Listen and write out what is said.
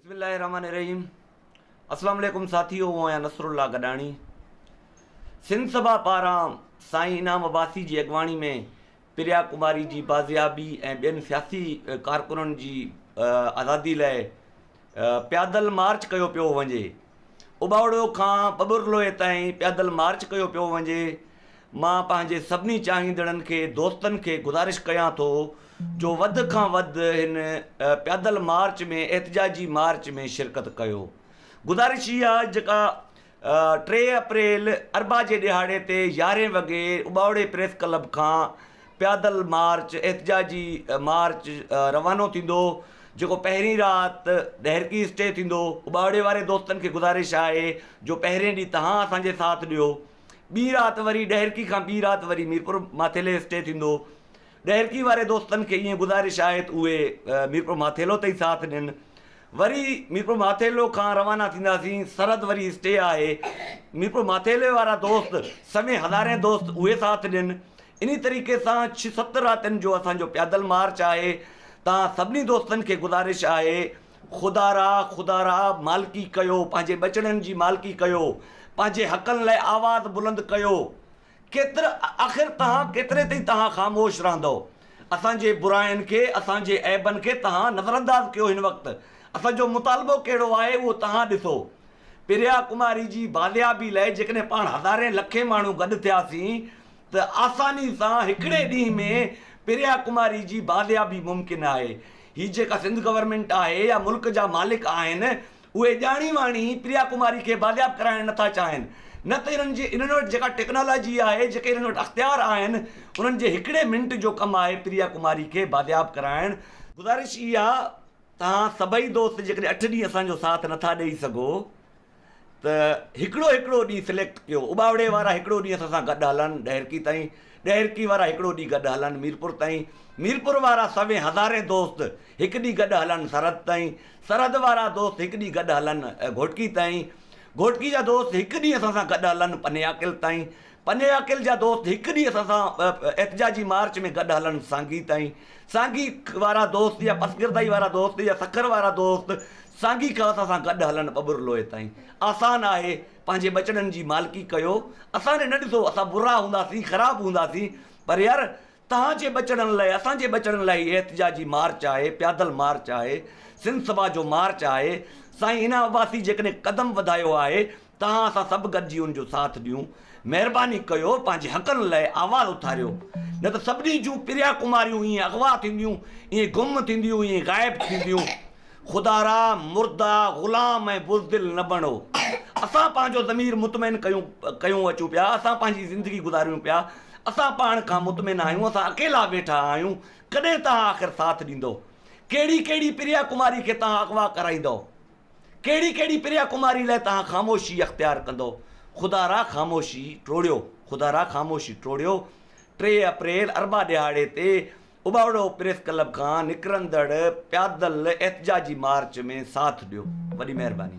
بسم الله الرحمٰن الرحيم اسلام عليڪم ساٿيو هون آهيان نصر الله گڏاڻي سنڌ سڀا پاران سائين انعام عباسي جي اڳواڻي ۾ پريا ڪماري جي بازيابي ۽ ٻين سياسي ڪارڪنن جي آزادي لاء پيادل مارچ ڪيو پيو وڃي اٻاوڙو کان ٻٻرلوئي تائين پيادل مارچ ڪيو پيو وڃي مان پنهنجي سڀني چاهيندڙن کي دوستن کي گذارش ڪيان ٿو جو وڌ کان وڌ هن پيادل مارچ ۾ احتجاجي مارچ ۾ شرڪت ڪيو گذارش اها جيڪا ٽي اپريل اربع جي ڏهاڙي تي يارهين وڳي اٻاوڙي پريس ڪلب کان پيادل مارچ احتجاجي مارچ روانو ٿيندو جيڪو پهرين رات ڏهرڪي اسٽي ٿيندو اٻاوڙي واري دوستن کي گذارش آهي جو پهرين ڏينهن تهان اسان جي ساٿ ڏيو ٻي رات وري ڏهرڪي کان ٻي رات وري ميرپور ماٿيلي اسٽي ٿيندو ڏهرڪي واري دوستن کي ائين گذارش آهي ته اهي ميرپور ماٿيلو تائين ساٿ ڏين وري ميرپور ماٿيلو کان روانا ٿينداسين سرحد وري اسٽي آهي ميرپور ماٿيلي وارا دوست سوين هزارين دوست اهي ساٿ ڏين انهي طريقي سان ڇهه ست راتين جو اسان جو پيادل مارچ آهي تان سڀني دوستن کي گذارش آهي خدا را خدا را مالڪي ڪيو پنهنجي ٻچڙن جي مالڪي ڪيو پنهنجي حقن لاء آواز بلند ڪيو. ڪيتر آخر تهان ڪيتري تائين تهان خاموش رهندؤ اسان جي براين کي اسان جي عيبن کي تهان نظرانداز ڪيو هن وقت اسان جو مطالبو ڪهڙو آهي اهو تهان ڏسو پريا ڪماري جي بازيابي لئه جيڪڏهن پاڻ هزارين لکين ماڻهو گڏ ٿياسين ته آساني سان هڪڙي ڏينهن ۾ پريا ڪماري جي بازيابي ممڪن آهي هي جيڪا سنڌ گورنمينٽ آهي يا ملڪ جا مالڪ آهن اهي ڄاڻي واڻي پريا ڪماري کي بازياب ڪرائڻ نٿا چاهين نه ته انهن جي انهن وٽ جيڪا ٽيڪنالاجي آهي جيڪي انهن وٽ اختيار آهن انهن جي هڪڙي منٽ جو ڪم آهي پريا ڪماري کي بازياب ڪرائڻ گذارش هي آهي توهان سڀئي دوست جيڪڏهن اٺ ڏينهن اسان جو ساٿ نٿا ڏئي سگهو ته هڪڙو هڪڙو ڏينهن سليڪٽ ڪيو اٻاوڙي وارا هڪڙو ڏينهن اسان سان گڏ هلن ڏهرڪي تائين ڏهرڪي وارا هڪڙو ڏينهن گڏ هلن ميرپور تائين ميرپور وارا سوين هزارين دوست هڪ ڏينهن گڏ هلن سرحد تائين سرحد وارا دوست هڪ ڏينهن گڏ هلن گهوٽڪي تائين، گهوٽڪي جا دوست هڪ ڏينهن اسان سان گڏ هلن پنياڪل تائين، پنياڪل جا دوست هڪ ڏينهن اسان سان احتجاجي مارچ ۾ گڏ هلن سانگي تائين، سانگي وارا دوست يا پسگردائي وارا دوست يا سکر وارا دوست سانگي کان اسان سان گڏ هلن ٻٻر لوئي تائين. آسان آهي پنهنجي ٻچڙن جي مالڪي ڪيو، اسان ڏي نه ڏسو اسان برا هونداسين خراب هونداسين پر يار توهان جي ٻچڙن لئه اسان جي ٻچڙن لئه هي احتجاجي مارچ آهي پيادل مارچ آهي سنڌ سڀا جو مارچ آهي سائين هنا عباسي جيڪڏهن قدم وڌايو آهي تهان اسان سڀ گڏجي ان جو ساٿ ڏيون مهرباني ڪيو پنهنجي حقن لئه آواز اٿاريو نه ته سڀني جون پريا ڪماريون ائين اغوا ٿينديون ائين گم ٿينديون ائين غائب ٿينديون خدا را مرده غلام ۽ بزدل نه بڻو. اسان پنهنجو ضمير مطمئن ڪيون ڪيون اچون پيا، اسان پنهنجي زندگي گذاريون پيا، اسان پاڻ کان مطمئن آهيون، اسان اڪيلا ويٺا آهيون، ڪڏهن توهان آخر ساٿ ڏيندؤ؟ ڪهڙي ڪهڙي پريا ڪماري کي توهان اغوا ڪرائيندؤ؟ ڪهڙي ڪهڙي پريا ڪماري لاء توهان خاموشي اختيار ڪندؤ؟ خدا را خاموشي ٽوڙيو، خدا را خاموشي ٽوڙيو، ٽي اپريل اربع ڏهاڙي تي اباوڙو پريس ڪلب کان نڪرندڙ پيادل احتجاجي مارچ ۾ ساٿ ڏيو وڏي مهرباني.